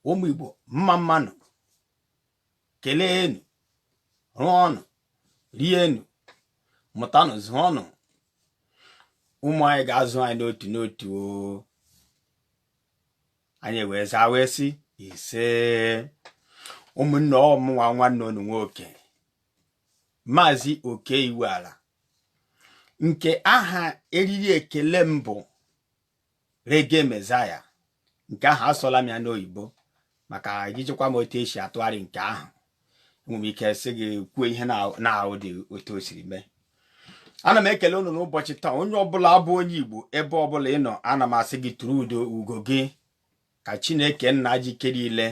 ụmụ Igbo mma mmanụ keleenụ rụọnụ rienụ mụtanụ zụọnụ ụmụ anyị ga-azụ anyị n'otu n'otu anyị wee zaa wee sị ise ụmụnne ọ mụnwa nwanne unu nwoke maazị Oke Iwuala nke aha eriri ekele m bụ Reggae Messiah nke ahụ asụla m ya n'oyibo maka ijikwa m otu e si atụgharị nke ahụ enwere m ike sị gị kwuo ihe na-ahụ dị otu o siri mee ana m ekele unu n'ụbọchị taa onye ọbụla bụ onye igbo ebe ọbụla ị nọ ana m asị gị tụrụ udo ugo gị ka chineke nna ji ike niile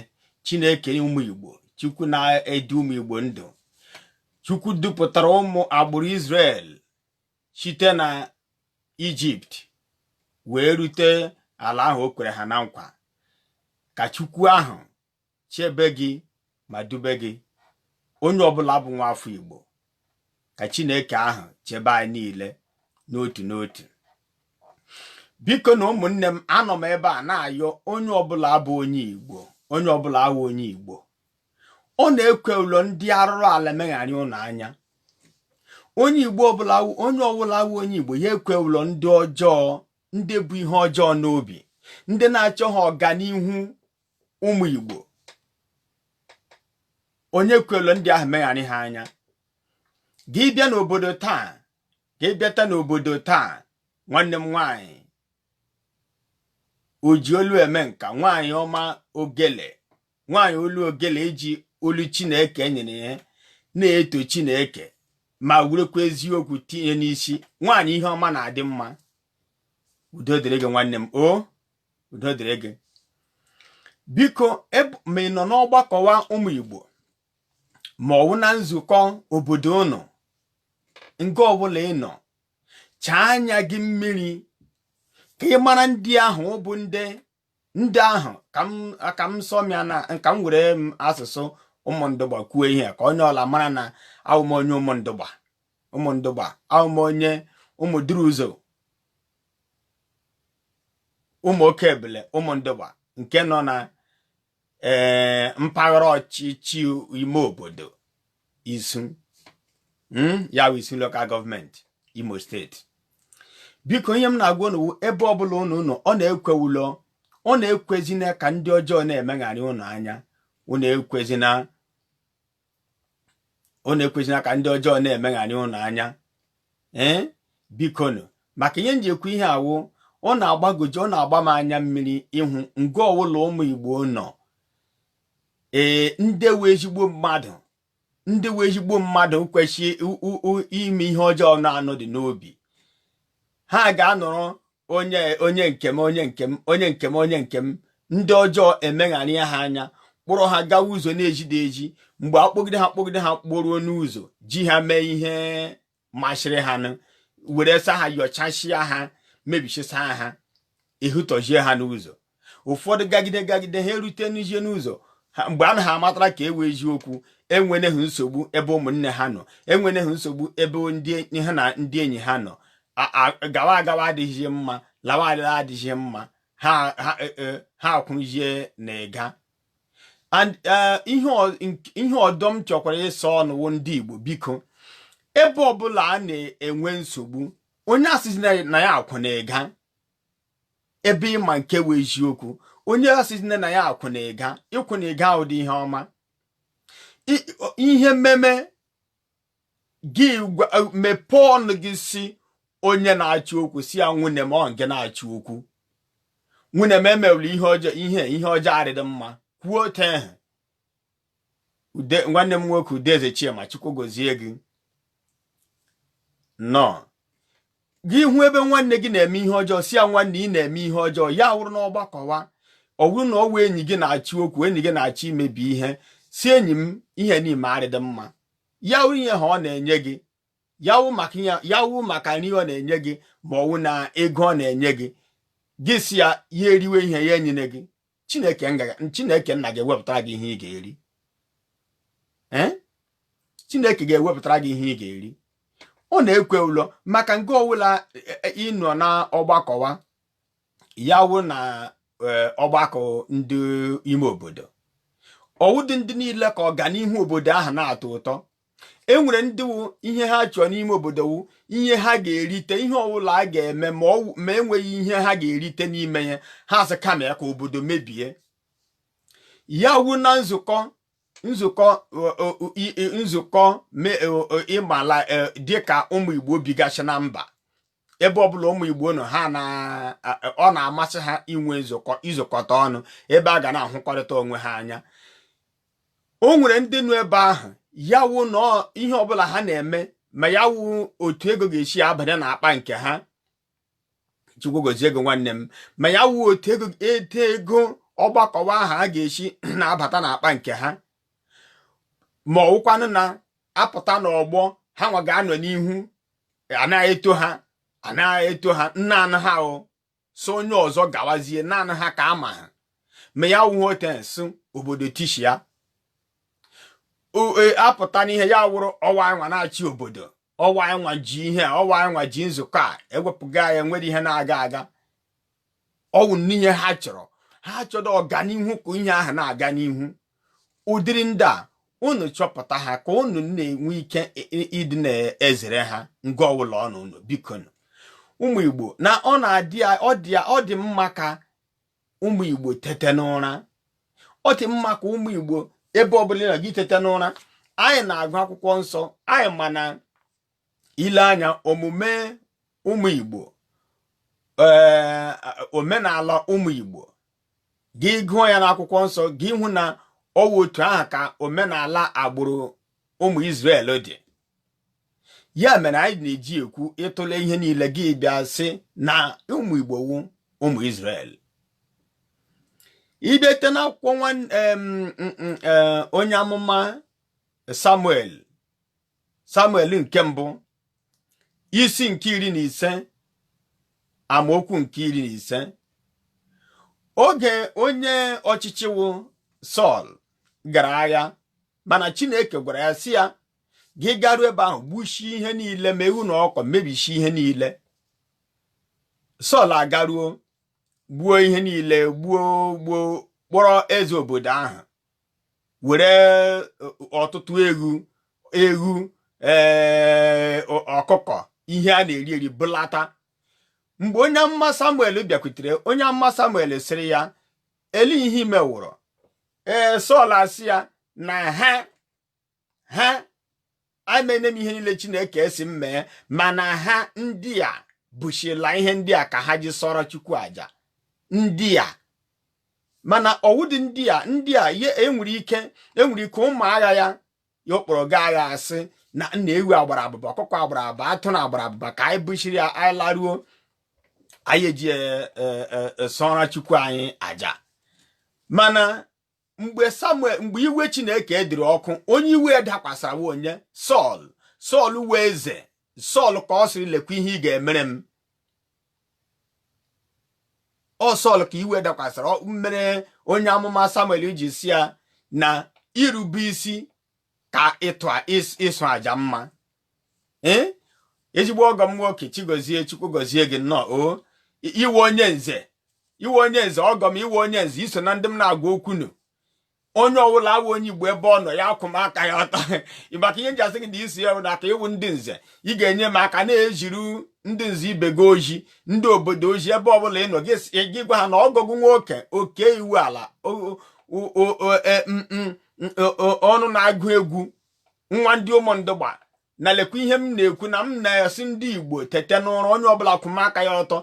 chineke ụmụ igbo chukwu na-edu ụmụ igbo ndụ chukwu dupụtara ụmụ agbụrụ Israel site na ijipt wee rute ala ahụ o kwere ha na nkwa ka chukwu ahụ chebe gị ma dube gị onye ọbụla bụ nwa afọ Igbo ka Chineke ahụ chebe anyị niile n'otu n'otu bikonụ ụmụnne m anọ m ebe a na-ayọ onye ọbụla bụ onye Igbo onye ọbụla wụ onye Igbo unu ekwela ndị arụrụ ala megharị unu anya onye Igbo ọbụla onye ọbụla wụ onye Igbo ya ekwela ndị ọjọọ ndị bu ihe ọjọọ n'obi ndị na-achọha ọganihu ụmụ Igbo onye ekwela ndị ahụ megharị ha anya gị bịa n'obodo taa gị bịata n'obodo taa nwanne m nwaanyị oji olu eme nka nwaanyị ọma ogele nwaanyị olu ogele ji olu chineke nyere ya na-eto chineke ma werekwa eziokwu tinye n'isi nwaanyị ihe ọma na-adị mma udo dịrị gị nwanne m o udo dịrị gị biko ma ị nọ n'ọgbakọwa ụmụ Igbo ma ọ wụ na nzukọ obodo unu nga ọbụla ị nọ chaa anya gị mmiri ka ị mara ndị ahụ bụ ndị ndị ahụ ka m sụọ m ya na ka m were asụsụ Ụmụndụgba kwuo ihe ka onye ọla mara na awụ m onye Ụmụndụgba Ụmụndụgba awụ m onye Ụmụduruụzọ Ụmụokebele Ụmụndụgba nke nọ na ee eh, mpaghara ọchịchị ime obodo Isu hmm, ya bụ Isu Local Government Imo State biko ihe m na-agwa unu ebe ọbụla unu nọ unu ekwela unu ekwezina ka ndị ọjọọ na-emegharị unu anya unu ekwezina ụnụ ekwezina ka ndị ọjọọ na-emegharị ụnụ anya ee eh? bikonu maka ihe m ji ekwu ihe a wụ ọ na-agbagoji ọ na-agba m anya mmiri ịhụ nga ọwụla ụmụ Igbo nọ ee eh, ndị wụ ezigbo mmadụ ndị wụ ezigbo mmadụ kwesị ime ihe ọjọọ na-anọdị n'obi ha ga-anọrọ onye onye nke m onye nke m ndị ọjọọ emegharịa ha anya kpọrọ ha gawa ụzọ na-ezidi ezi mgbe a kpọgide ha kpọgide ha kpọruo n'ụzọ ji ha mee ihe masịrị ha nụ were sa ha yọchasịa ha mebichisịa ha ahatọzie ha n'ụzọ ụfọdụ gagide gagide ha erute n'ije n'ụzọ mgbe a na ha amatara nke wụ eziokwu enwene ha nsogbu ebe ụmụnne ha nọ enwene ha nsogbu ebe ndị ha na ndị enyi ha nọ gawa agawa adịghị mma lawa alawa adịghị mma ha e, e, akwụzie na ịga e, ihe ọdọ m chọkwara ịsị ụnụ wụ ndị Igbo biko ebe ọbụla a na-enwe nsogbu onye asịzina ya akwụ na ịga ebe ị ma nke wụ eziokwu onye asịna na ya akwụ na ịga ịkwụ na ịga awụdị ihe ọma ihe mewe gị mepee ọnụ gị sị onye na-achọ okwu sị ya nwanne m ọ gị na-achọ okwu nwanne m i mela ihe ọjọọ ihe ihe ọjọọ adịdị mma kwuo otu ehe ude nwanne m nwoke Udeze Chima Chukwu gozie gị nnọọ gị hụ ebe nwanne gị na-eme ihe ọjọọ sị ya nwanne ị na-eme ihe ọjọọ ya wụrụ n'ọgbakọwa ọ wụrụ na ọ wụ enyi gị na-achọ okwu enyi gị na-achọ imebi ihe sị enyi m ihe ị na-eme arịdị mma ya wụrụ ihe a ọ na-enye gị ya wụ maka ya ya wụ maka nri ọ na-enye gị ma ọ wụ na ego ọ na-enye gị gị sị ya ya eriwe ihe ya enyene gị chineke chineke nna ga-ewepụtara gị ihe ị ga-eri eh? chineke ga-ewepụtara gị ihe ị ga-eri ụnụ ekwela maka nke ọwụla e, e, ị nọ na ọgbakọwa ya wụ na e, ọgbakọ ndị ime obodo ọ wụdị ndị niile ka ọganihu obodo ahụ na-atọ ụtọ e nwere ndị wụ ihe ha chọọ n'ime obodo wụ ihe ha ga-erite ihe ọbụla a ga-eme ma ọ wụ- ma enweghị ihe ha ga-erite n'ime ya ha sị kama ya ka obodo mebie ya wu na nzukọ nzukọ ọ- ọ- ọ- i- i- nzukọ me- ọ- ọ- amala eh, dịka ụmụ igbo bigasị na mba ebe ọbụla ụmụ igbo nọ ha na ọ na-amasị ha inwe nzukọ izukọta ọnụ ebe ha ga na-ahụkọrịta onwe ha anya o nwere ndị nọ ebe ahụ ya wụ na ihe ọbụla ha na-eme ma ya wụ otu ego ga-esi abanye na akpa nke ha chukwu gozie gị nwanne m ma ya wụ otu ego ete ego ọgbakọ ahụ ga-esi na-abata na akpa nke ha ma ọ wụkwanụ na a pụta n'ọgbọ ha nwa ga-anọ n'ihu a na-eto ha a na-eto ha naanị ha o so onye ọzọ gawazie naanị ha ka a ma ha ma ya wụ otens obodo tishi ya e, a pụta n'ihe ya wụrụ ọ wụ ha nwa na-achị obodo ọ wụ ha nwa ji ihe ọ wụ ha nwa ji nzukọ a e wepụga ya nwere ihe na-aga aga ọ wụ n'ihe ha chọrọ ha achọdụ ọganihu ka ihe ahụ na-aga n'ihu ụdịrị ndị a unu chọpụta ha ka unu na-enwe ike ịdị na-ezere ha nga ọbụla unu nọ biko ụmụ igbo na ọ na-adị ọ dị mma ka ụmụ igbo tete n'ụra ọ dị mma ka ụmụ igbo ebe ọbụla ị nọ gị tete n'ụra anyị na-agụ akwụkwọ nsọ anyị mana i lee anya omume ụmụ Igbo ee omenala ụmụ Igbo gị gụọ ya n'akwụkwọ nsọ gị hụ na ọ wụ otu ahụ ka omenala agbụrụ ụmụ Izrel dị ya mere anyị na-eji ekwu ị tụle ihe niile gị bịa sị na ụmụ Igbo wụ ụmụ Izrel ị bata n'akwụkwọ e, onye amụma samuel samuel nke mbụ isi nke iri na ise amaokwu nke iri na ise oge onye ọchịchị wụ sọl gara agha mana chineke gwara ya sị ya gị garuo ebe ahụ gbuchie ihe niile ma ewu na ọkụkọ mebichie ihe niile sọl agaruo gbuo ihe niile gbuo gbuo kpọrọ eze obodo ahụ were ọtụtụ eghu eghu ee ọkụkọ ihe a na-eri eri bulata mgbe onye amụma samuel bịakwutere onye amụma samuel sịrị ya elee ihe i mewụrụ ee sọl asị ya na ha ha emene m ihe niile chineke sị m mee mana ha ndị a buchila ihe ndị a ka ha ji sụọrọ chukwu aja ndị a mana ọ wụdị ndị a ndị a ihe enwere ike enwere ike ụmụ agha ya ya ọ kpọrọ gaa agha asị na nna ewu a gbara abụba ọkụkọ a gbara abụba atụrụ a gbara abụba ka anyị buchiri ya anyị laruo anyị eji e, e, e, sụọra chukwu anyị aja mana mgbe samuel mgbe iwe chineke dịrị ọkụ onye iwe ya dakwasara wụ onye sọl sọl wụ eze sọl ka ọ sịrị lekwa ihe ị ga-emere m ọ sọl ka iwe dakwasara mere onye amụma samuel ji sị ya na irube isi ka ịsụ aja mma ee ezigbo ọgọ m nwoke chigozie chukwu gozie gị nnọọ o ị wụ onye nze ị wụ onye nze ọgọ m ị wụ onye nze i so na ndị m na-agwa okwunu onye ọbụla wụ onye igbo ebe ọ nọ ya kwụma aka ya ọtọ maka ihe m ji asị gị na isi ya na aka ị wụ ndị nze ị ga-enye m aka na-eziri ndị nze ibe gị ozi ndị obodo ozi ebe ọbụla ị nọ gị gwa ha na ọgọ gị nwoke oke iwuala e, ọnụ na-agụ egwu nwa ndị ụmụndụgba na lekwa ihe m na-ekwu na m na-asị ndị igbo tete n'ụra onye ọbụla kwụma aka ya ọtọ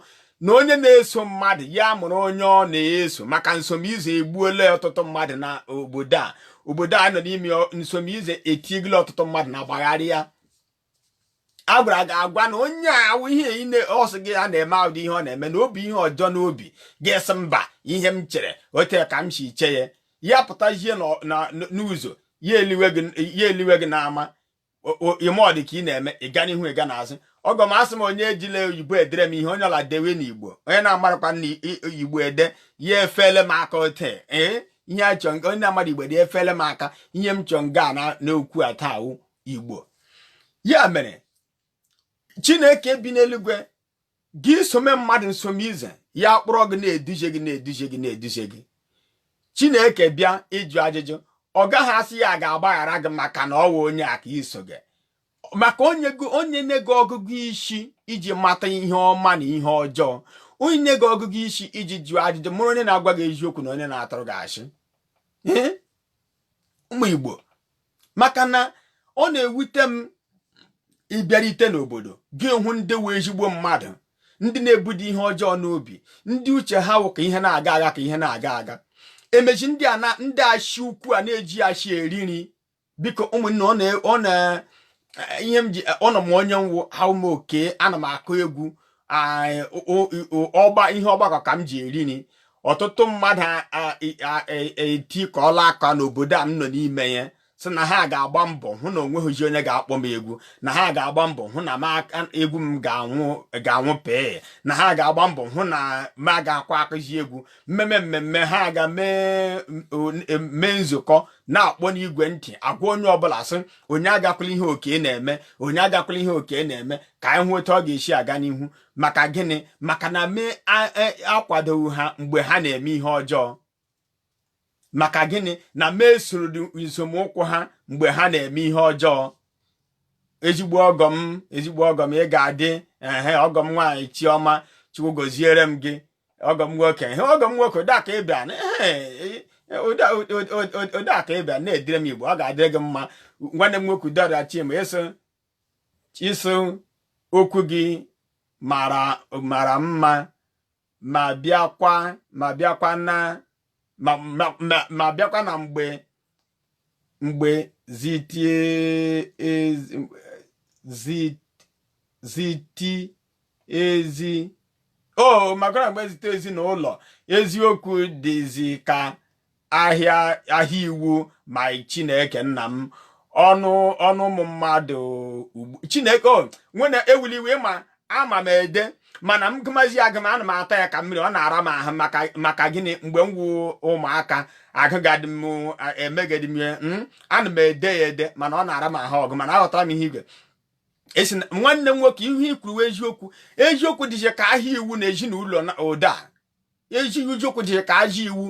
na onye na-eso mmadụ ya mụrụ onye ọ na-eso maka nsomize egbuola ọtụtụ mmadụ na obodo a obodo a nọ n'ime nsomize etiegila ọtụtụ mmadụ na mgbagharị anya a gwara gị agwa na onye awụ ihe ine ọ sị gị a na-eme ụdị ihe ọ na-eme na o bu ihe ọjọọ n'obi gị asị mba ihe m chere ote ka m si che ya ya pụtazie n'ụzọ ya eliwe gị n'ama ị mee ọ dị ka ị na-eme ịga n'ihu ịga n'azụ ọgọ m asị m onye ejila oyibo edere m ihe onye ọla dewe n'igbo onye na-amarakwa na igbo ede ya efele m aka ote ee ihe achọ onye na-amara igbo ede efele m aka ihe m chọ nga na n'okwu a taa igbo ya mere chineke bi n'eluigwe gị esome mmadụ nsomize ya kpọrọ gị na-eduje gị na-eduje gị na-eduje gị chineke bịa ịjụ ajụjụ ọ gaghị asị ya ga-agbaghara gị maka na ọ wụ onye a ka i soga maka o nyena gị ọgụgụ isi iji mata ihe ọma na ihe ọjọọ o nyena gị ọgụgụ isi iji jụọ ajụjụ mụrụ onye na-agwa gị eziokwu na onye na-atụrụ gị asị ụmụ Igbo maka na ọ na-ewute m ịbịarite n'obodo gị hụ ndị awụ ezigbo mmadụ ndị na-ebudo ihe ọjọọ n'obi ndị uche ha wụ ka ihe na-aga aga ka ihe na-aga aga emechi ndị a na ndị asị ukwu a na-eji asị eri nri biko ụmụnne ọ na eh, ihe m ji eh, ụnụ ma onye m wụ aha m wụ oke ana m akụ egwu ọgba ihe ọgbakọ ka m ji eri nri ọtụtụ mmadụ etikọọla aka n'obodo a m nọ n'ime ya sị na ha ga-agba mbọ hụ na onweghịzi onye ga-akpọ m egwu na ha ga-agba mbọ hụ na egwu m ga-anwụ pii na ha ga-agba mbọ hụ na m agakwa akụzi egwu mmemme mmemme ha ga mee nzukọ na-akpọ n'igwe ntị agwa onye ọbụla sị onye agakwala ihe oke na-eme onye agakwala ihe oke na-eme ka anyị hụ otu ọ ga-esi aga n'ihu maka gịnị maka na m e, akwadoghị ha mgbe ha na-eme ihe ọjọọ maka gịnị na m esoro nzọmụkwụ ha mgbe ha na-eme ihe ọjọọ ezigbo ọgọ m ezigbo ọgọ m ị ga-adị ehe ọgọ m nwaanyị chiọma chukwu goziere m gị ọgọ m nwoke ehe ọgọ m nwoke ụda ka ịbịa na ihe ụda ụda- ụda- ụda ka ịbịa na-edere m igbo ọ ga-adịrị gị mma nwanne m nwoke udora chima isi isi okwu gị mara mara mma ma bịakwa ma bịakwa na ma ma- ma- ma bịakwa na mgbe mgbe zitie e, ziti ezi o maka mgbe zite ezinụlọ eziokwu dịzi ka ahịa ahịa iwu ma chineke nna m ọnụ ọnụ ụmụ mmadụ chineke o nwanne ewela iwe ma ama m ede mana m gụmazi agụ m ana m ata ya ka mmiri ọ na-ara m ahụ maka gịnị mgbe m wụ ụmụaka agụgadị m emegedị m ya hmm? ana m ede ya ede mana ọ na-ara m ahụ ọgụ mana aghọtara m ihe igwe esi nwanne m nwoke ihe i kwuru eziokwu eziokwu dịzi ka ahịa iwu na ezinụlọ ụda ezi eziokwu dịzi ka ahịa iwu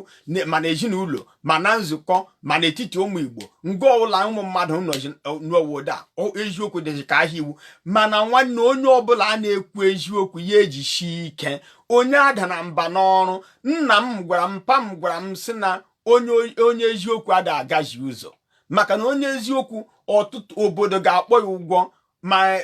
ma na ezinụlọ ma na nzukọ ma n'etiti ụmụ Igbo nga ọbụla ụmụ mmadụ nọ ụda eziokwu dịzi ka ahịa iwu mana nwanne onye ọbụla a na-ekwu eziokwu ya ejishi ike onye adana mba n'ọrụ nna m gwara m mpa m gwara m sị na onye eziokwu ada agazi ụzọ maka na onye eziokwu ọtụtụ obodo ga-akpọ ya ụgwọ ma e,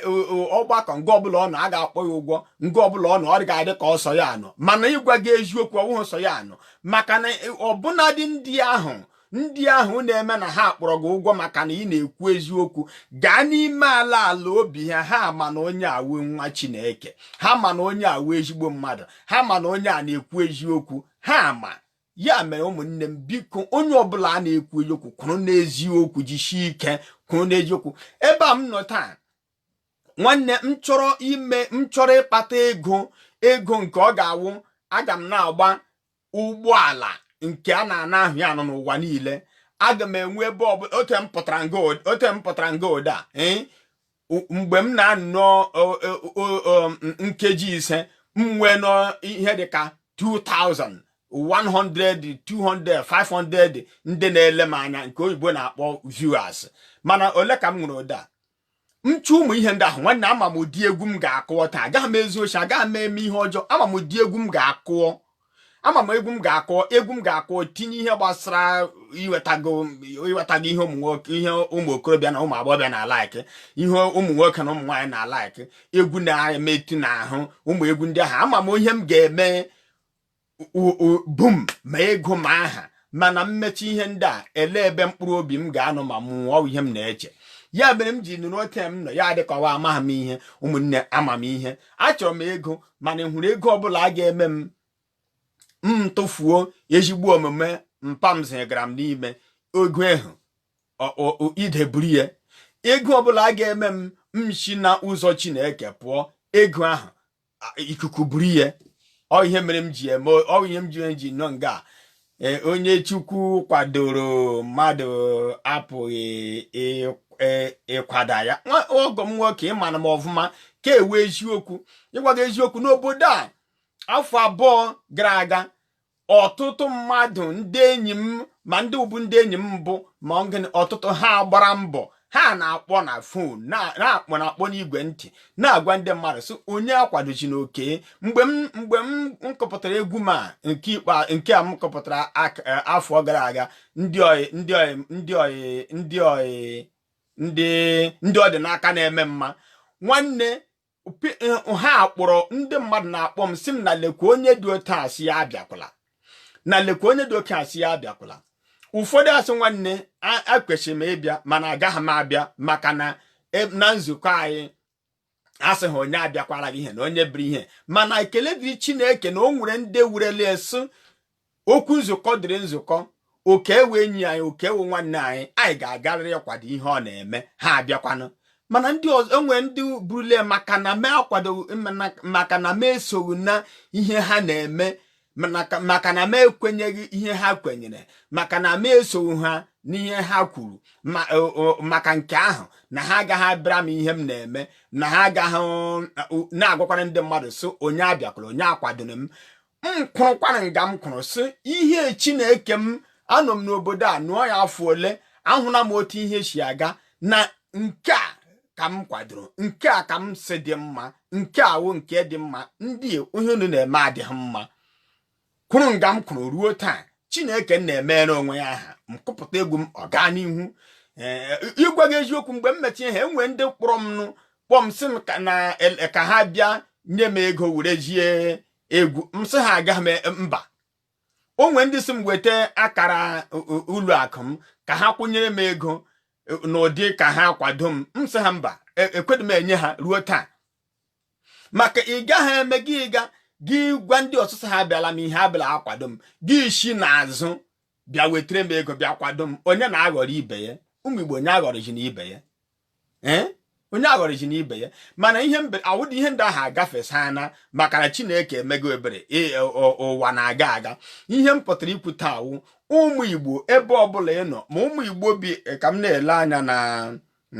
ọgbakọ nga ọbụla ọ nọ a ga-akpọ ya ụgwọ nga ọbụla ọ nọ ọ ga-adị ka ọ sọ ya nọ mana ịgwa gị eziokwu ọ wụghị sọ ya nọ maka na e, ọbụnadị ndị ahụ ndị ahụ na-eme na ha kpọrọ gị ụgwọ maka na ị na-ekwu eziokwu gaa n'ime ala ala obi ha ha ma na onye a wụ nwa Chineke ha ma na onye a wụ ezigbo mmadụ ha ma na onye a na-ekwu eziokwu ha ma ya mere ụmụnne m biko onye ọbụla a na-ekwu eziokwu kwụrụ n'eziokwu jisie ike kwụrụ n'eziokwu ebe a m nọ taa nwanne m chọrọ ime m chọrọ ịkpata ego ego nke ọ ga-awụ aga m na-agba ụgbọala nke a na-ana ahụ ya nọ n'ụwa niile aga m enwe ebe ọbụla ote m pụtara nga ụda eh? mgbe m na-anọ nkeji ise m nwee nọ ihe dịka 2000 100 200 500 ndị na-ele m anya nke oyibo na-akpọ viewers mana ole ka m nwere ụda m chụ ụmụ ihe ndị ahụ nwanne ama m ụdị egwu m ga-akụọ taa agaghị m ezu oshi agaghị m eme ihe ọjọọ ama m ụdị egwu m ga-akụọ ama m egwu m ga-akụ egwu m ga-akụ tinye ihe gbasara iwetago iwetago ihe ụmụ nwoke ihe ụmụ okorobịa na ụmụ agbọghọbịa na-alike ihe ụmụ nwoke na ụmụ nwaanyị na-alike egwu na-emetụ n'ahụ ụmụ egwu ndị ahụ ama m ihe m ga-eme boom ma ego ma aha mana m mechaa ihe ndị a ele ebe mkpụrụ obi m ga-anọ ma m nwụọ ihe m na-eche ya mere m ji nọrọ otu m nọ ya adị ka ọ wụ amaghị m ihe ụmụnne ama m ihe achọrọ m ego mana ị hụrụ ego ọbụla a ga-eme m m tụfuo ezigbo omume mpa m zigara m n'ime ego ahụ ide buru ya ego ọbụla a ga-eme m m si na ụzọ chineke pụọ ego ahụ ikuku buru ya ọ ihe mere m ji eme ọ ihe m ji ji nọ nga e, onye chukwu kwadoro mmadụ apụghị e, ịkwada ya ọgọ m nwoke ị mana m ọfụma nke wụ eziokwu ịgwa gị eziokwu n'obodo a afọ abụọ gara aga ọtụtụ mmadụ ndị enyi m ma ndị wụbu ndị enyi m mbụ ma ọtụtụ ha gbara mbọ ha na-akpọ na fon na-akpọ na-akpọ n'igwe ntị na-agwa ndị mmadụ sị onye akwadozina Okey mgbe m mgbe m kụpụtara egwu m a nke ikpe nke a m kụpụtara e, afọ gara aga ndị oyi ndị oyi ndị oyi ndị oyi ndị ndị ọ dị n'aka na-eme mma nwanne ha kpọrọ ndị mmadụ na-akpọ m sị m na lekwa onye dị otu a sị ya abịakwala na lekwa onye dị otu a sị ya abịakwala ụfọdụ asị nwanne ekwesịrị m ịbịa mana agaghị m abịa maka na e, na nzukọ anyị asị ha onye abịakwara gị ihe na onye biri ihe mana ekele dịrị Chineke na o nwere ndị wụrụle asị okwu nzukọ dịrị nzukọ Okey wụ enyi anyị Okey wụ nwanne anyị anyị ga-agarịrị ịkwado ihe ọ na-eme ha abịakwanụ mana ndị ọzọ enwee ndị bụrụle maka na m akwado maka na m esoghị na ihe ha na-eme maka na m ekwenyeghị ihe ha kwenyere maka na m esoghị ha n'ihe ha kwuru maka nke ahụ na ha agaghị abịara m ihe m na-eme na ha agaghị na-agwakwanụ ndị mmadụ sị onye abịakwala onye akwadona m m kwụrụkwara nga m kwụrụ sị ihe chineke m anọ m n'obodo a nọọ ya afọ ole ahụla m otu ihe si aga na nke a ka m kwadoro nke a ka m si dị mma nke a wụ nke dị mma ndị ihe unu na-eme adịghị mma kwụrụ nga m kwụrụ ruo taa chineke na-emere onwe ya aha m kụpụta egwu m ọ gaa n'ihu ịgwa gị eziokwu mgbe m mechie ihe a enwee ndị kpọrọ m nụ kpọọ m sị m ka ha bịa nye m ego were jie egwu m sị ha aga m e, mba o nwe ndị sị m weta akara ụlọ akụ m ka ha kwụnyere m ego e, n'ụdị ka ha kwado m m sị ha mba ekwedị m enye ha ruo taa maka ị gaghị eme gị ịga gị gwa ndị ọsụsụ ha abịala m ihe abịala akwado m gị esi n'azụ bịa wetara m ego bịa kwado m onye na-aghọrọ ibe ya ụmụ Igbo onye aghọrọzina ibe ya ee onye aghọrọjina ibe ya mana ihe ụdị ihe ndị ahụ agafesana maka na chineke emego ebere ụwa na-aga aga ihe m pụtara ikwu taa wụ ụmụ igbo ebe ọbụla ị nọ ma ụmụ igbo bi e, ka m na-ele anya na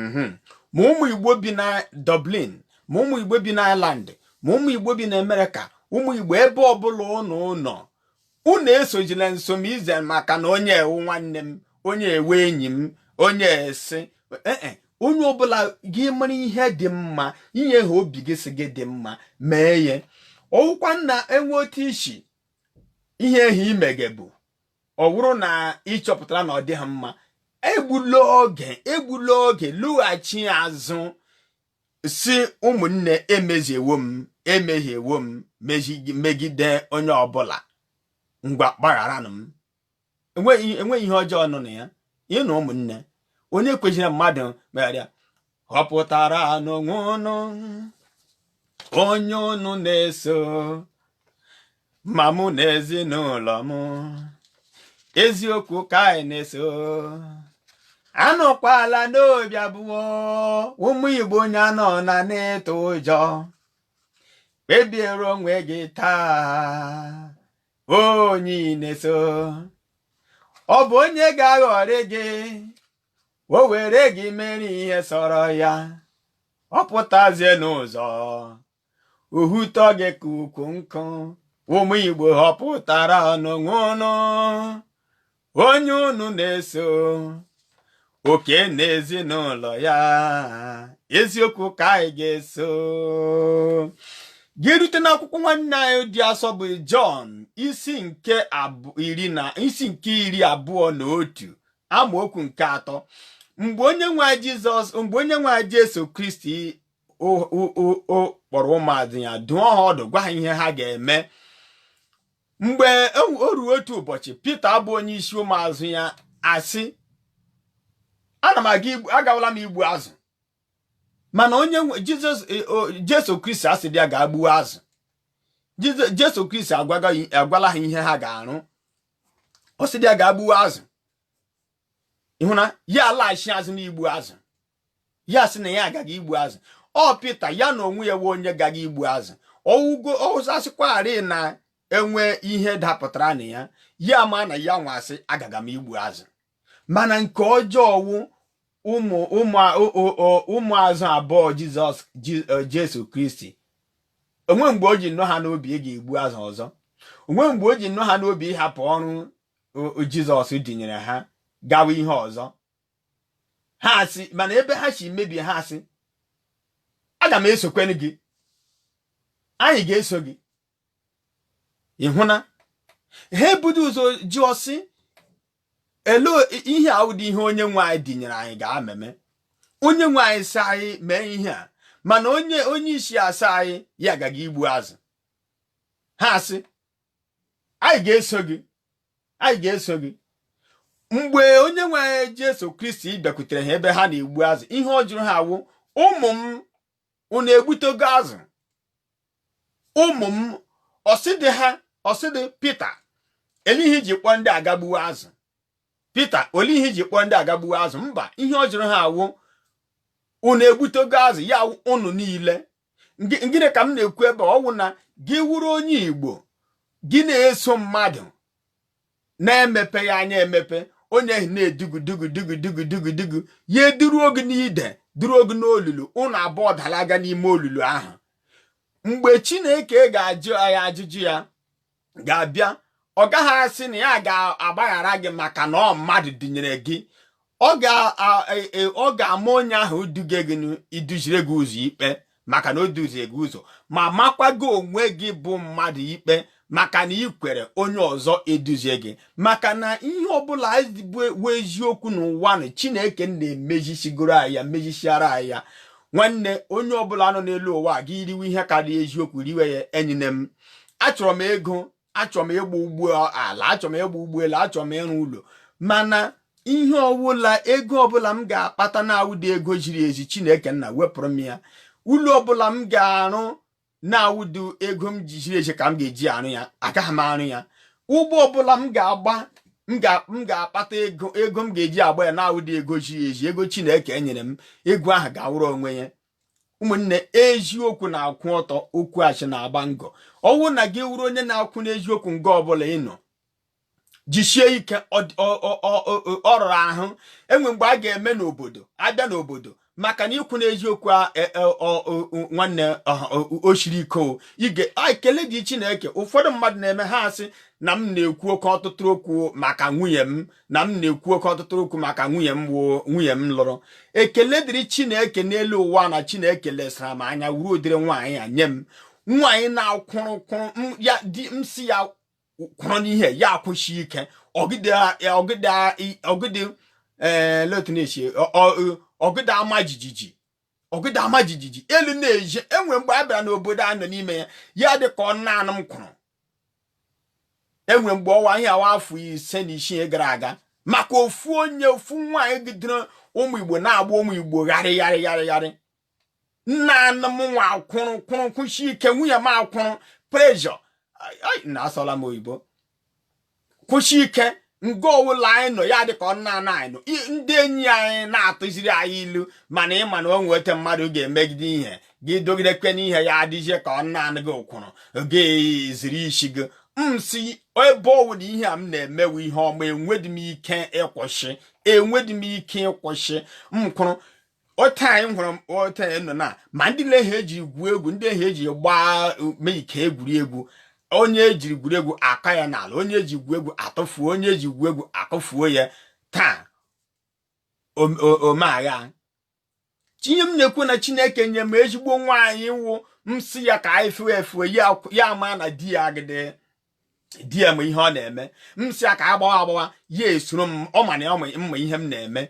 mhm, ma ụmụ igbo bi na Dublin ma ụmụ igbo bi na Ireland ma ụmụ igbo bi na Amerịka ụmụ igbo ebe ọbụla ụnụ nọ unu esojila nsomize maka na onye a wụ nwanne m onye a wụ enyi m onye esi ee e, onye ọbụla gị mara ihe dị mma ihe ahụ obi gị sị gị dị mma mee ya ọ wụkwa na enwe otu isi ihe ahụ ị megebu ọ bụrụ na ị chọpụtara na ọ dịghị mma egbula oge egbula oge lọghachi azụ sị ụmụnne emeziewo m emehiewo m megide onye ọbụla ngwa gbagharanụ m enweghị ihe ọjọọ nọ na ya ị nụ ụmụnne onye ekwezila mmadụ megharịa họpụtaranụ onwe ụnụ onye ụnụ na-eso ma mụ na ezinụlọ m eziokwu ka anyị na-eso anọkwala n'obi abụọ ụmụ igbo onye anọna n'ịtụ ụjọ kpebiere onwe gị taa onye ị na-eso ọ bụ onye ga-aghọrị gị o were gị mere ihe sọrọ ya ọ pụtazie n'ụzọ ọ wụtọ gị ka ukwu nkụ ụmụ igbo họpụtaranụ onwe unu onye unu na-eso oke na ezinụlọ ya eziokwu ka anyị ga-eso gị rute n'akwụkwọ nwanne anyị dị asọ bụ Jọn isi nke iri na isi nke iri abụọ na otu amaokwu nke atọ mgbe onye nwe Jizọs mgbe onye nwe Jesu Kristi kpọrọ ụmụazụ ya dụọ ha ọdụ gwa ha ihe ha ga-eme mgbe e o ruo otu ụbọchị Pita bụ onye isi ụmụazụ ya asị ana m aga igbu agawala m igbu azụ mana onye Jizọs e, Jesu Kristi asịdị ya ga gbuo azụ Jesu Kristi agwala ha ihe ha ga-arụ ọ sịdị ya ga gbuo azụ ị hụ na ya alaghachi azụ n'igbu azụ ya sị na ya ga-aga igbu azụ ọ pita ya na onwe ya wụ onye ga-aga igbu azụ ọwụgo ọwụsasịkwarị na enwe ihe dapụtara na ya ya ma na ya nwa sị agaga m igbu azụ mana nke ọjọọ wụ ụmụ ụmụazụ abụọ jizọs e, jesu kristi o nwe mgbe o ji nọọ ha n'obi ịga igbu azụ ọzọ o nwe mgbe o ji nọọ ha n'obi ịhapụ ọrụ jizọs dinyere ha gawa ihe ọzọ ha asị mana ebe ha si mebie ha asị aga m esokwenụ gị anyị ga-eso gị ị hụ na ha ebudị ụzọ jụọ sị ele ihe a awụdị ihe onye nwe anyị dinyere anyị ga-ameme onye nwe anyị sị anyị mee ihe a mana onye onye isi asị anyị ya ga-aga igbu azụ ha asị anyị ga-eso gị anyị ga-eso gị mgbe onye nwe anyị Jesu Kristi bịakwutere ha ebe ha na-egbu azụ ihe ọ jụrụ ha wụ ụmụ m unu egbutego azụ ụmụ m ọ sịdị ha ọ sịdị Pita ele ihe i ji kpọọ ndị a gaa gbuwe azụ Pita ole ihe i ji kpọọ ndị a gaa gbuwe azụ mba ihe ọ jụrụ ha wụ unu egbutego azụ ya unu niile gịnị ka m na-ekwu ebe ọ wụ na gị wụrụ onye Igbo gị na-eso mmadụ na-emepe ya anya emepe onye ahụ na-edugu dugu dugu dugu dugu dugu ya eduruo gị n'ide duruo gị n'olulu ụnụ abụọ dalaga n'ime olulu ahụ mgbe Chineke ga-ajụ ya ajụjụ ya ga-abịa ọ gaghị asị na ya ga-agbaghara gị maka na ọ mmadụ dinyere gị ọ ga-ama onye ahụ duge gị iduzire gị ụzọ ikpe maka na o duzie gị ụzọ ma makwa gị onwe gị bụ mmadụ ikpe maka na i kwere onye ọzọ eduzie gị maka na ihe ọbụla bụ eziokwu n'ụwa na chineke nna emezisigoro anyị ya mezisiara anyị ya nwanne onye ọbụla nọ n'elu ụwa gị riwe ihe karịa eziokwu riwe ya enyine m achọrọ m ego achọrọ m ịgba ụgbọ ala achọrọ m ịgba ụgbọelu achọrọ m ịrụ ụlọ mana ihe ọwụla ego ọbụla m ga-akpata na-awụdị ego ziri ezi chineke nna wepụrụ m ya ụlọ ọbụla m ga-arụ na-awụdị ego m ji ziri ezi ka m ga-eji arụ ya agaghị m arụ ya ụgbọ ọbụla m ga-agba m ga-akpata ego ego m ga-eji agba ya na-awụdị ego ziri ezi ego chineke enyere m ego ahụ gawara onwe ya ụmụnne eziokwu na-akwụ ọtọ okwu asị na-agba ngọ ọwụ na gị wụrụ onye na-akwụ n'eziokwu nga ọbụla ị nọ jisie ike ọ rara ahụ enwe mgbe a ga-eme n'obodo abịa n'obodo maka na ị kwụ n'eziokwu e, e, nwanne o siri ike o ige ekele dị Chineke ụfọdụ mmadụ na-eme ha asị na m na-ekwu oke ọtụtụ okwu maka nwunye m na m na-ekwu oke ọtụtụ okwu maka nwunye m woo nwunye m lụrụ ekele dịrị chineke n'elu ụwa na chineke lesara m anya wuru ụdịrị nwaanyị a nye m nwaanyị na-akwụrụ kwụrụ ya di m sị ya kwụrụ n'ihe ya akwụsị ike ogidi ogidi ogidi ee eh, letinesi ogidi ama jijiji ogidi ama jijiji elu na-eje enwe mgbe a bịara n'obodo a nọ n'ime ya ya dị ka ọ naanụ m kwụrụ enwe mgbe ọwa ihe awa afọ ise na isii gara aga maka ofu onye ofu nwaanyị gidere ụmụ igbo na-agba ụmụ igbo gharị gharị gharị gharị naanụ m nwa akwụrụ kwụrụ kwụshi ike nwunye m akwụrụ pressure na asụọla m oyibo kwụsị ike nga ọwụla anyị nọ ya dịka ọ naanụ anyị nọ ndị enyi anyị na-atụziri anyị ilu mana ị ma na o nwete mmadụ ga-emegide ihe gị dogidekwe n'ihe ya adịzie ka ọ naanụ gị kwụrụ oge ziri isi gị m sị ebe ọ wụ na ihe a m na-eme wụ ihe ọma enwedị m ike ịkwụsị enwedị m ike ịkwụsị m kwụrụ ote anyị hụrụ ote anyị nọ na ma ndị na-ehe eji egwu egwu ndị ihe eji gbaa mee ike egwuregwu onye ejiri egwuregwu aka ya n'ala onye eji egwu egwu atụfuo onye eji egwu egwu akụfuo ya taa omeagha tinye m na-ekwu na chineke nye m ezigbo nwaanyị wụ m sị ya ka anyị fue efue ya ma na di ya agide di ya ma ihe ọ na-eme m sị ya ka a gbawa agbawa ya esoro m ọ ma na m ma ihe m na-eme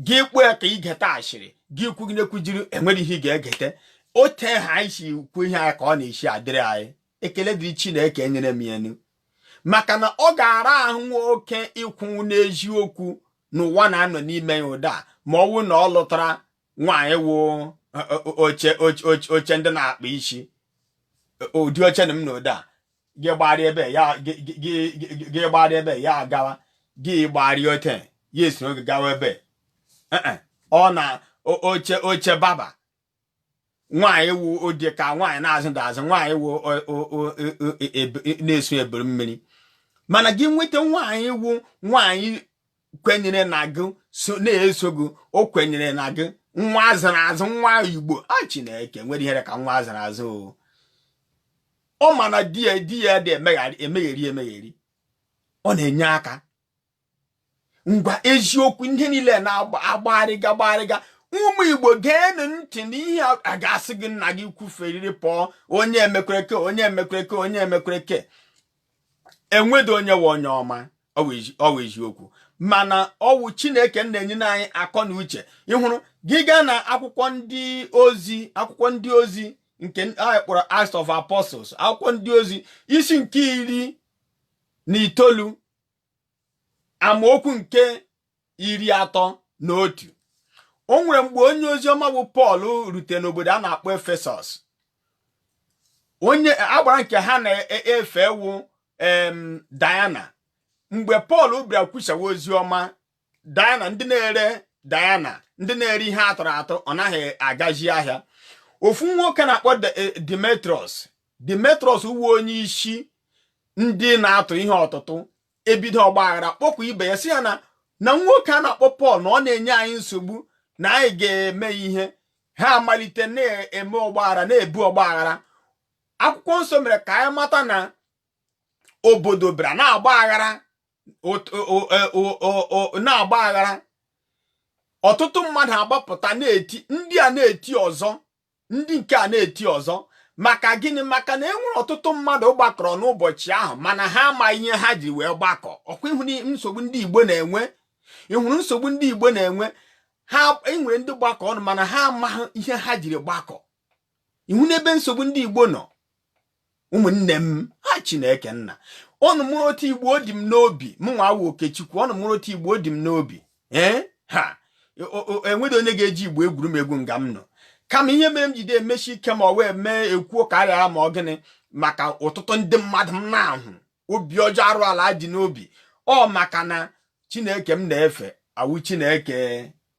gị kpuo ya ka ị geta ashịrị gị kwugide kwujiri enwere ihe ị ga-egete ote ahụ anyị si kwu ihe anyị ka ọ na-esi adịrị anyị ekele dịrị Chineke nyere m ya maka na ọ ga-ara ahụ nwoke ịkwụnwụ n'eziokwu n'ụwa na-anọ n'ime ya ụda ma ọ wụ na ọ lụtara nwaanyị wụ oche oche ndị na-akpa isi ụdị oche na m nọ ọdụ a gị gbarịa ebe a gị gbarịa ebe a ya agawa gị gbarịa ote a ya esoro gị gawa ebe ọ na oche oche barber nwaanyị wụ ọ dị ka nwaanyị na-azụdị azụ nwaanyị wụ na-eso ebiri mmiri mana gị nweta nwaanyị wụ nwaanyị kwenyere na gị na-eso gị o kwenyere na gị nwa a zụrụ azụ nwa igbo a ah, chineke nwere ihe rị ka nwa a zụrụ azụ o ọ ma na di ya di ya adị emegheri emegheri ọ na-enye aka ngwa eziokwu ihe niile na-agbagharịga gbagharịga ụmụ igbo geenụ ntị n'ihe a ga-asị gị na gị kwuferiri pụọ onye emekwereke onye emekwereke onye emekwereke enwedị onye wụ onye ọma ọ wụ eziokwu mana ọ wụ chineke na-enye anyị akọ na uche ị hụrụ gị gaa na akwụkwọ ndị ozi akwụkwọ ndị ozi nke anyị kpọrọ Acts of Apostles akwụkwọ ndị ozi isi nke iri na itoolu amaokwu nke iri atọ na otu o nwere mgbe onye oziọma bụ Pọl rute n'obodo a na-akpọ Efesọs onye agbara nke ha na-efe wụ Diana mgbe Pọl bịara kwusawa ozi ọma Diana ndị na-ere Diana ndị na-ere ihe a tụrụ atụ ọ naghị agazi ahịa ofu nwoke a na-akpọ eh, Demetrius Demetrius ọ wụ onye isi ndị na-atụ ihe ọtụtụ ebido ọgbaghara kpọkwa ibe ya sị ya na na nwoke a na-akpọ Pọl na ọ na-enye anyị nsogbu na anyị ga-eme ihe ha amalite na-eme ọgbaghara na-ebu ọgbaghara akwụkwọ nsọ mere ka anyị mata na obodo bịara na-agba aghara e, na-agba aghara ọtụtụ mmadụ agbapụta na-eti ndị a na-eti ọzọ ndị nke a na-eti ọzọ maka gịnị maka na e nwere ọtụtụ mmadụ gbakọrọ n'ụbọchị ahụ mana ha amaghị ihe ha ji wee gbakọ ọ kwa ị hụ nsogbu ndị Igbo na-enwe ị hụrụ nsogbu ndị Igbo na-enwe e nwere ndị gbakọ ọnụ mana ha amaghị ihe ha jiri gbakọ ị hụna ebe nsogbu ndị Igbo nọ ụmụnne m ha Chineke nna ụnụ mara otu Igbo ọ dị m n'obi mụnwa wụ Okechukwu ụnụ mara otu Igbo ọ dị m n'obi ee ha enweghị onye ga-eji Igbo egwuru m egwu nga m nọ kama ihe mere m jide emesi ike ma ọ wee mee ekwuo ka a ghara ma ọ gịnị maka ọtụtụ ndị mmadụ m na-ahụ obi ọjọọ arụ ala dị n'obi ọ maka na chineke m na-efe awụ chineke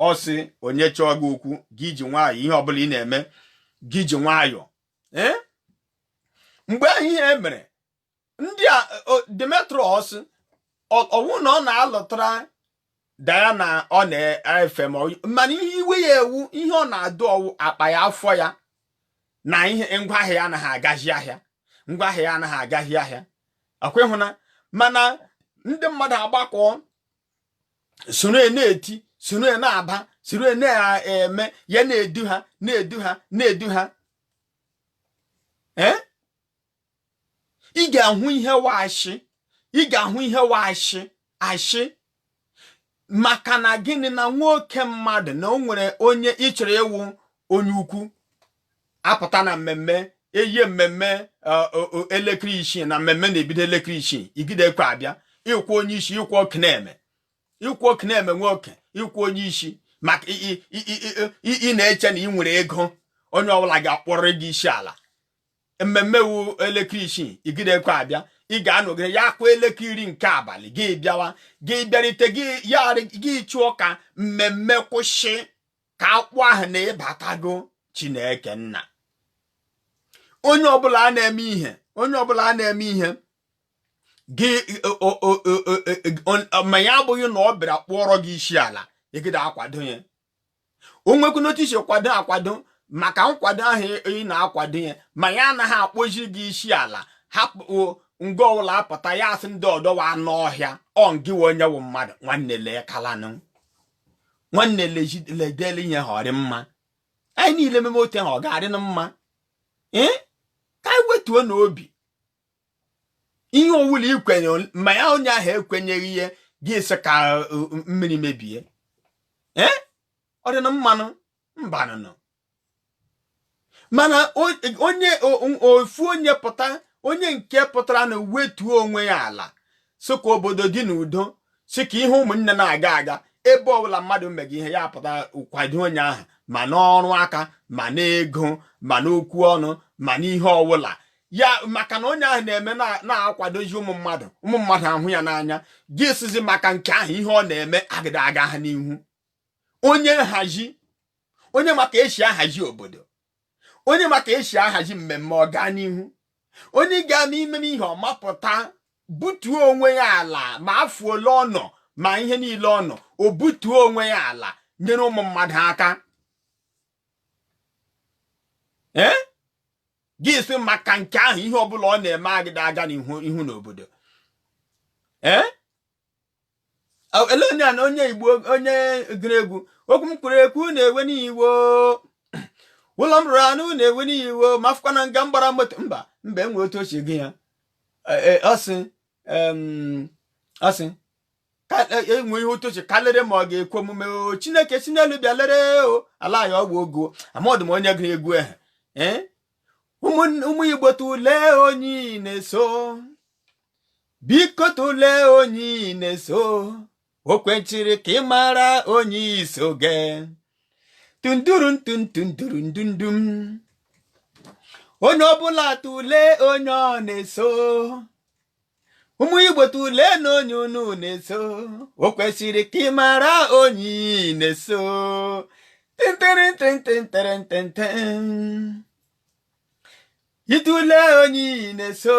ọ sị onye chọọ gị okwu gị ji nwayọọ ihe ọbụla ị na-eme gị ji nwayọọ eh? mgbe ahụ ihe mere ndị a Demetrius ọ wụ na ọ na-alụtara Diana ọ na-efe ma mana ihe iwe ya wụ ihe ọ na-adọ wụ akpa ya afọ ya na ihe ngwa ahịa ya anaghị agazi ahịa ngwa ahịa ya anaghị agazi ahịa ọ kwa ị hụna mana ndị mmadụ agbakọ soro na-eti soro na-aba soro na-eme ya na-edu ha na-edu ha na-edu ha ee eh? ị ga-ahụ ihe wụ ashị ị ga-ahụ ihe wụ ashị ashị maka na gịnị na nwoke mmadụ na o nwere onye ị chọrọ ịwụ onye ukwu apụta na mmemme eyie mmemme e, elekere isii na mmemme na-ebido elekere isii igide ekwe abịa ịkwụ onye isi ịkwụ ọkụ na-eme ịkwụ ọkụ na-eme nwoke ịkwụ onye isi maka ị na-eche na ị nwere ego onye ọbụla ga-akpọrọ gị isi ala mmemme wu elekere isii ị gịdakwa abịa ị ga-anọgide ya kụọ elekere iri nke abalị gị bịawa gị bịarite gị chọọ ka mmemme kwụsị ka akpọọ aha na ịbatago Chineke nna onye ọbụla a na-eme ihe onye ọbụla a na-eme ihe gị ma ya abụghị na ọ bịara kpụọrọ gị isi ala ịgịda akwado ya o nwekwu n'otu i si kwado akwado maka nkwado ahụ ị na-akwado ya ma ya anaghị akpọzi gị isi ala hapụ nga ọwụla apụta ya asị ndị ọdọ wụ anụ ọhịa ọ ngị wụ onye wụ mmadụ nwanne lekalanụ nwanne ledele ihe ahụ ọ rị mma anyị niile meme otu ahụ ọ ga-adịnụ mma ee ka anyị wetuonụ obi ihe ọwụla ikwenye ma ya onye ahụ ekwenyeghị ihe gị sị ka uh, mmiri mebie ee ọ dịnụ mma nụ mbanụnụ mana onye ofu onye pụta onye nke pụtaranụ wetuo onwe ya ala sọ ka obodo dị n'udo sị ka ihe ụmụnna na-aga aga ebe ọwụla mmadụ mega ihe ya pụta kwado onye ahụ ma n'ọrụ aka ma n'ego ma n'okwu ọnụ ma n'ihe ọwụla ya maka na onye ahụ na-eme na-akwadozi ụmụ mmadụ ụmụ mmadụ ahụ ya n'anya gị sịzi maka nke ahụ ihe ọ na-eme agịda aga ha n'ihu onye nhazi onye ma ka esi ahazi obodo onye ma ka esi ahazi mmemme ọ gaa n'ihu onye ga-ama imeme ihe ọma pụta butuo onwe ya ala ma afọ ole ọ nọ ma ihe niile ọ nọ o butuo onwe ya ala nyere ụmụ mmadụ aka ee eh? gị sị maka nke ahụ ihe ọbụla ọ na-eme agịda aga n'ihu ihu n'obodo ee eh? ele onye a na onye igbo onye gụrụ egwu okwu m kwuru ekwu na-ewe n'iwo ụlọ m rụrụ arụ na-ewe n'iwo ma afụkwa na nga m gbara moto mba mba enwe otu ochie gị ya e, e, ọ sị asị enwe e, e ihe otu oche kalịrị ma ọ ga-ekwe omume o chineke si n'elu bịa lere o ala ya ọgwụ ogo amadụ m onye gụrụ egwu ehe eh? ụmụ igbo tụlee onye ị na-eso biko tụlee onye ị na-eso o kwechiri ka ị mara onye i so aga tunduru ntundunduru ndundum onye ọbụla tụle onye ọ na-eso ụmụ igbo tụleenụ onye unu na-eso o kwesịrị ka ị mara onye ị na-eso ịtụle onye ị na-eso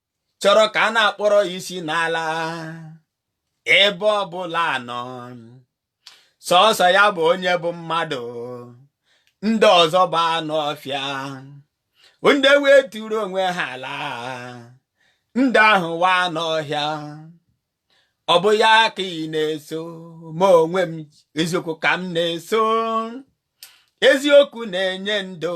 chọrọ ka a na-akpọrọ ya isi n'ala ebe ọbụla ọ nọ sọsọ ya bụ onye bụ mmadụ ndị ọzọ bụ anụ ọhịa ndị weturu onwe ha ala ndị ahụ wụ anụ ọhịa ọ bụ ya ka ị na-eso mụ onwe m eziokwu ka m na-eso eziokwu na-enye ndụ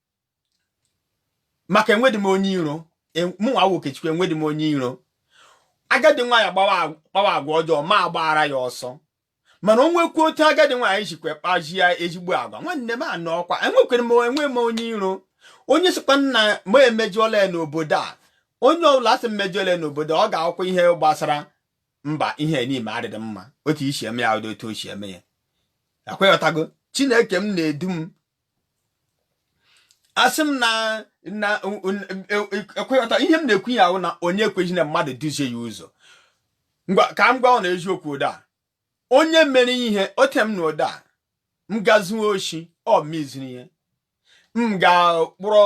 maka enwedị m onye iro e, mụnwa nwa Okechukwu enwedị m onye iro agadi nwaanyị kpawa agwa ọjọọ m agbaara ya ọsọ mana o nwekwa otu agadi nwaanyị jikwa kpaa ya ezigbo agwa nwanne m anọ ọkwa enwekwere m enwe m onye iro onye sịkwa na m emejọọla ya n'obodo a onye ọbụla sị m mejọọla ya n'obodo ọ ga-akwụkwọ ihe gbasara mba ihe n'ime adịdị mma otu i si eme ya ụdị otu o si eme ya akweghọtago chineke m na-edu m asị m na na ekweghọta ihe m na-ekwu ya ahụ na onye ekweghị na mmadụ duzie ya ụzọ ngwa ka m gwa unu eziokwu ụda onye mere ihe ote m na ụda m gaa zuo oshi ọ meziri ihe m ga-kpụrụ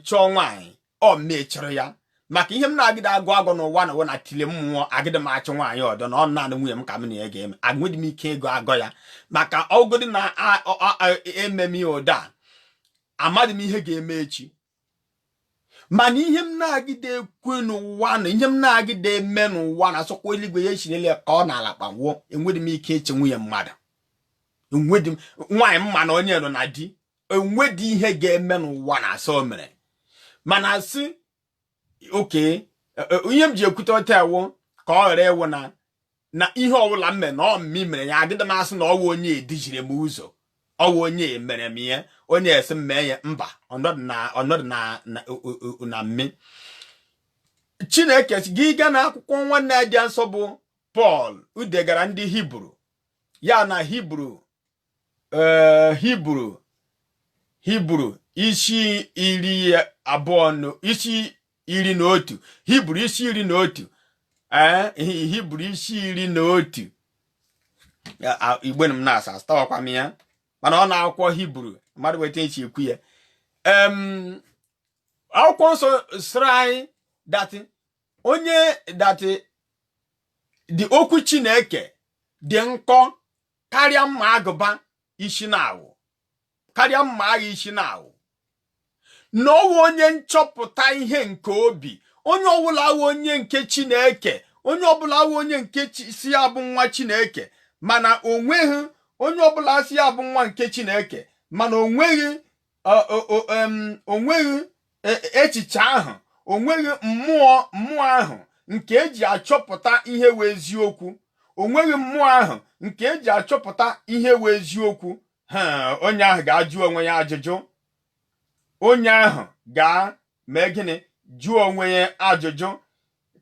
chọọ nwaanyị ọ m na-echere ya maka ihe m na-agịdị agọ agọ n'ụwa na ụwa na tile mmụọ agịdị m achụ nwaanyị ọdọ na ọ naanị nwunye m ka m na ya ga-eme enwedị m ike ịgọ agọ ya maka ọ gịdị na ememe ya ụda amadị m ihe ga-eme echi mana ihe m na-agịdị ekwe n'ụwa na ihe m na-agịdị eme n'ụwa na asịkwa eluigwe ya echirele ka ọ na ala kpawụọ enwedị m ike ịchụ nwunye mmadụ enwedị m nwaanyị m ma na onye nọ na di o nwedị ihe ga-eme n'ụwa na asị o mere mana asị okay e, e, ihe m ji ekwute otu a wụ ka ọ ghara ịwụ na na ihe ọbụla m mere na ọ mụ mere ya agịdị m asị na ọ wụ onye duziri m ụzọ ọ wụ onye mere m ihe onye sị m mee ya mba ọnọdụ na ọnọdụ na na mme chineke gị gaa n'akwụkwọ nwanne ya dị nsọ bụ pọl o degara ndị hibru ya na hibru ee hibru hibru isi iri abụọ isi iri na otu hibru isi iri na otu ee hibru isi iri na otu ihe m na-asa echetaghakwa m ya mana ọ n'akwụkwọ hibru mmadụ weta echi ekwu ya akwụkwọ nsọ sịrị anyị that onye that the okwu chineke dị nkọ karịa mma agụba isi naawọ karịa mma agha isi naawọ na ọ wụ onye nchọpụta ihe nke obi onye ọbụla awụ onye nke chineke onye ọbụla awụ onye nke sị ya bụ nwa chineke mana o nweghị onye ọbụla sị ya bụ nwa nke chineke mana o nweghị onweghị e, echiche ahụ onweghị mmụọ mmụọ ahụ nke eji achọpụta ihe wụ eziokwu onweghị mmụọ ahụ nke eji achọpụta ihe wụ eziokwu onye ahụ ga-ajụ onwe ya ajụjụ onye ahụ ga-eme gịnị jụọ onwe ya ajụjụ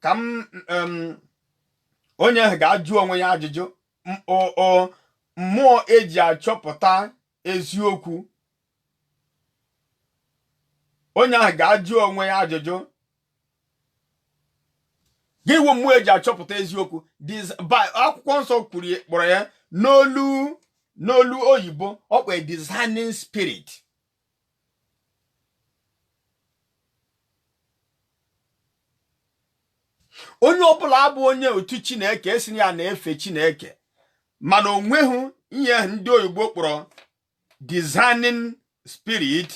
ka m onye ahụ ga-ajụ onwe ya ajụjụ mmụọ eji achọpụta eziokwu onye ahụ ga-ajụ onwe ya ajụjụ ga-enwe mmụọ eji achọpụta eziokwu akwụkwọ nsọ kwuru kpọrọ ya n'olu n'olu oyibo ọ kpọrọ discerning spirit onye ọbụla abụ onye otu chineke esi ya na-efe chineke mana onweghị ihe ndị oyibo kpọrọ discerning spirit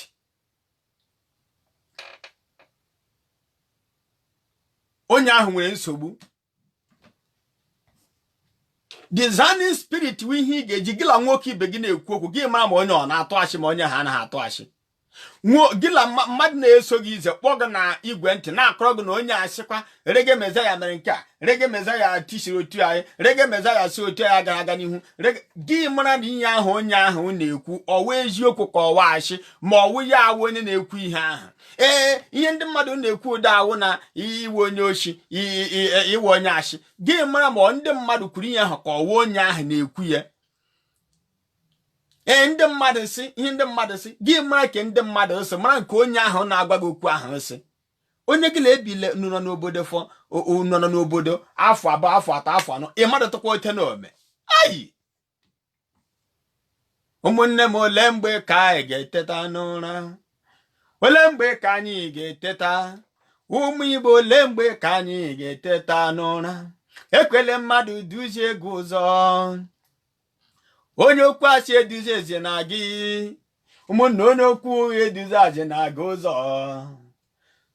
onye ahụ nwere nsogbu discerning spirit wụ ihe ị ga-eji gị la nwoke ibe gị na-ekwu okwu gị mara ma onye ọ na-atụ asị ma onye ahụ anaghị atụ asị gị la mmadụ na-eso gị ize kpọọ gị na igwe ntị na-akọrọ gị na onye asịkwa reggae messiah mere nke a reggae messiah tisiri otu anyị reggae messiah si otu anyị gara aga n'ihu gị mara na ihe ahụ onye ahụ na-ekwu ọwa eziokwu ka ọwa asị ma ọwụ ya awụ onye na-ekwu ihe ahụ ee ihe ndị mmadụ na-ekwu ụda ahụ na ị wụ onye oshi ị wụ onye asị gị mara ma ndị mmadụ kwuru ihe ahụ ka ọwa onye ahụ na-ekwu ya ee ndị mmadụ si ihe ndị mmadụ si gị mara ka ndị mmadụ si mara nke onye ahụ na-agwa gị okwu ahụ si onye gị na-ebile nụnọ n'obodo fọ nọ n'obodo afọ abụọ afọ atọ afọ anọ ị madụtụkwa otu ọ na-eme ayi ụmụnne m ole mgbe ka anyị ga-eteta n'ụra ole mgbe ka anyị ga-eteta ụmụ igbo ole mgbe ka anyị ga-eteta n'ụra ekwele mmadụ duzie gị ụzọ onye okwu asị eduzizina gị ụmụnne onye okwu ụgha eduzizina gị ụzọ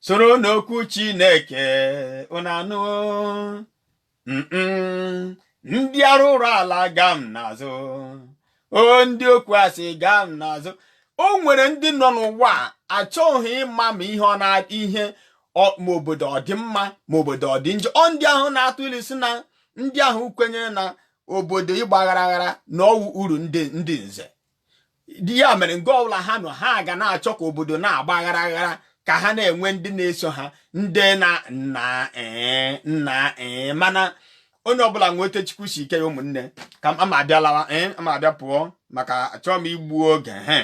soronụ okwu chineke ụnanụ ndị arụrụ ala gaa m n'azụ o ndị okwu asị gaa m n'azụ o nwere ndị nọ n'ụwa achọghị ịma ma ihe ọ na ihe ma obodo ọ dị mma ma obodo ọ dị njọ ọ ndị ahụ na-atụ ilu si na ndị ahụ kwenyere na obodo ịgba aghara aghara na ọwụ uru ndị ndị nze di ya mere nga ọbụla ha nọ ha ga na-achọ ka obodo na-agba aghara aghara ka ha na-enwe ndị na-eso ha ndị na nna ee eh, nna ee eh, mana onye ọbụla nwee otu chukwu si kee ya ụmụnne ka ama abịa lawa ee eh, ama abịa pụọ maka achọọ m igbu oge he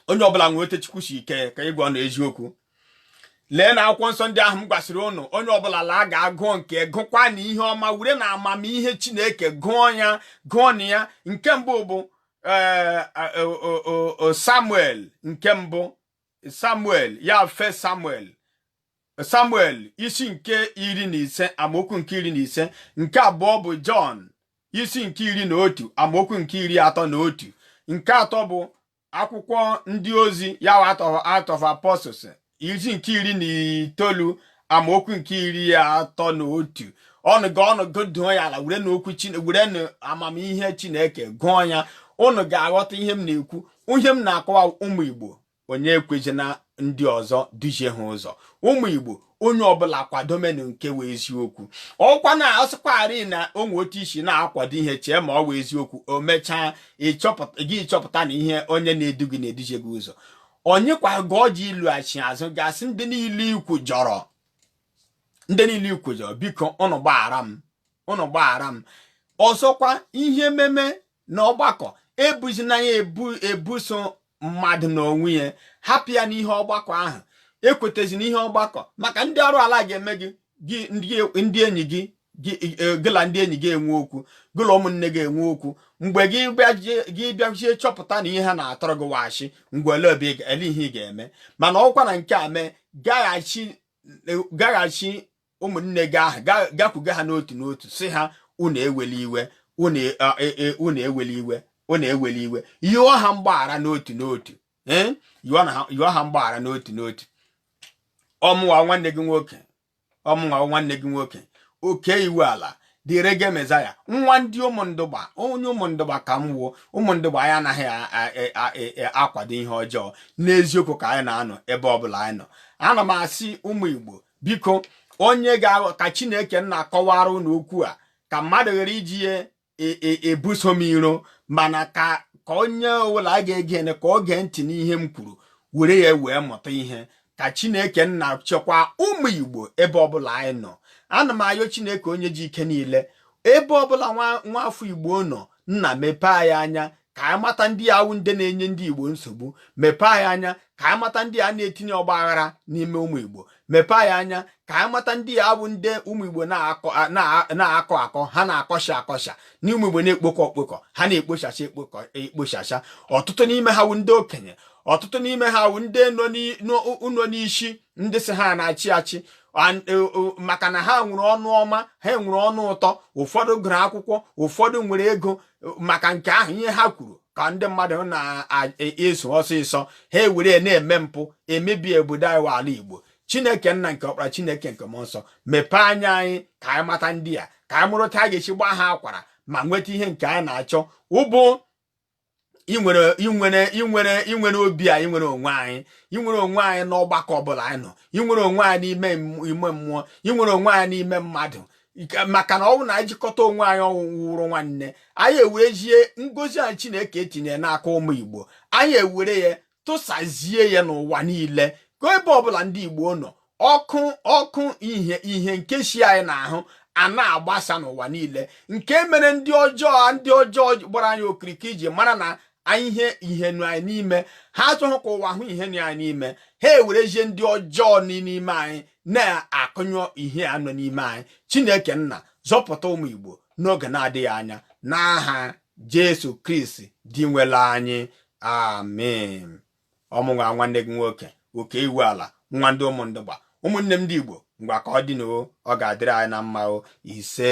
onye ọbụla nwee otu chukwu si kee ya ịgwa ụnụ eziokwu leenụ akwụkwọ nsọ ndị ahụ m gwasịrị ụnụ onye ọbụla laa gaa gụọ nke gụkwanụ ihe ọma werenụ amamihe chineke gụọ ya gụọnụ ya nke mbụ bụ eh, eh, samuel nke mbụ samuel ya first samuel samuel isi nke iri na ise amaokwu nke iri na ise nke abụọ bụ jọn isi nke iri na otu amaokwu nke iri atọ na otu nke atọ bụ akwụkwọ ndị ozi ya acts of apostles isi nke iri na itoolu amaokwu nke iri atọ na otu ụnụ ga ụnụ gị dụọ ya ala werenụ okwu Chineke werenụ amamihe Chineke gụọ ya ụnụ ga-aghọta ihe m na-ekwu ihe m na-akọwa ụmụ Igbo onye ekwezina ndị ọzọ duhie ha ụzọ ụmụ Igbo onye ọbụla kwadomenu nke wụ eziokwu ọkwa na asịkwarị na o nwe otu i si na-akwado ihe chee ma ọ wụ eziokwu o mechaa gị chọpụta na ihe onye na-edu gị na-eduhie gị ụzọ onye kwa ga ọ ji ịlọghachi azụ ga sị ndị niile i kwujọrọ ndị niile i kwujọrọ biko ụnụ gbaghara m ụnụ gbaghara m ọzọkwa ihe meme n'ọgbakọ ebuzina ya ebuso mmadụ n'onwe ya hapụ ya n'ihe ọgbakọ ahụ ekwetazi n'ihe ọgbakọ maka ndị arụrụala ga-eme gị gị ndị enyi gị e, gị na ndị enyi gị enwe okwu gị na ụmụnne gị enwe okwu mgbe gị bịazie chọpụta na ihe ha na-atụrụ gị wụ asị ngwa elee obi elee ihe ị ga-eme mana ọkwa na nke a mee gaghachi e, ụmụnne gị ahụ gakwuga ha n'otu n'otu sị ha unu eweli iwe unu e, eweli iwe unu eweli iwe yọọ ha mgbaghara n'otu n'otu yọọ ha mgbaghara n'otu n'otu ọ mụwa nwanne gị nwoke ọ mụnwa nwanne gị nwoke okey iwuala the reggae messiah nwa ndị ụmụndụgba onye ụmụndụgba ka m wụ o ụmụndụgba anyị anaghị e, e, e, akwado ihe ọjọọ n'eziokwu ka anyị na-anọ ebe ọbụla anyị nọ ana m asị ụmụ igbo biko onye ga-aghọ ka chineke nna kọwara unu okwu a ka mmadụ ghara iji ya ebuso m iro mana ka ka onye ọbụla ga-egenụ ka o gee ntị n'ihe m kwuru were ya wee mụta ihe ka chineke nna chekwa ụmụ igbo ebe ọbụla anyị nọ ana m ayọ chineke onye ji ike niile ebe ọbụla nwa afọ igbo nọ nna mepee anyị anya ka anyị mata ndị a wụ ndị na-enye ndị Igbo nsogbu mepee anyị anya ka anyị mata ndị a na-etinye ọgba aghara n'ime ụmụ Igbo mepee anyị anya ka anyị mata ndị a wụ ndị ụmụ Igbo na-akọ akọ ha na-akọsha akọsha na ụmụ Igbo na-ekpokọ ekpokọ ha na-ekpochacha ekpochacha ọtụtụ n'ime ha wụ ndị okenye ọtụtụ n'ime ha wụ ndị nọ n'isi ndị sị ha na-achị achị maka na ha nwere ọnụ ọma ha nwere ọnụ ụtọ ụfọdụ gụrụ akwụkwọ ụfọdụ nwere ego maka nke ahụ ihe ha kwuru ka ndị mmadụ na-eso ọsịsọ ha ewere na-eme mpụ emebi obodo anyị ala Igbo Chineke nna nke ọkpara Chineke nke mmụọ nsọ mepee anya anyị ka anyị mata ndị a ka anyị mụrụ otu a ga-esi gbaa ha akwara ma nweta ihe nke anyị na-achọ ọ bụ inwere obi a inwere onwe anyị inwere onwe anyị n'ọgbakọ ọbụla anyị nọ inwere onwe anyị n'ime mmụọ inwere onwe anyị n'ime mmadụ maka na ọ wụ na anyị jikọta onwe anyị ọnụ wụrụ nwanne anyị ewerezie ngozi anyị Chineke etinye n'aka ụmụ Igbo anyị ewere ya tụsazie ya n'ụwa niile ka ebe ọbụla ndị Igbo nọ ọkụ ihe nke si anyị n'ahụ a na-agbasa n'ụwa niile nke mere ndị ọjọọ gbara anyị okirikiri ji mara na anyị ihe ihe nọ anyị n'ime ha achọghị ka ụwa hụ ihe nọ anyị n'ime ha ewerezie ndị ọjọọ n'ime anyị na-akụnyụ ihe a nọ n'ime anyị chineke nna zọpụta ụmụ igbo n'oge na-adịghị anya n'aha jesu kristi di nwere anyị amen ọ mụnwa nwanne gị nwoke Okey Iwuala nwa ndị Umundugba ụmụnne m ndị igbo ngwa ka ọ dị nụ ọ ga-adịrị anyị na mma ise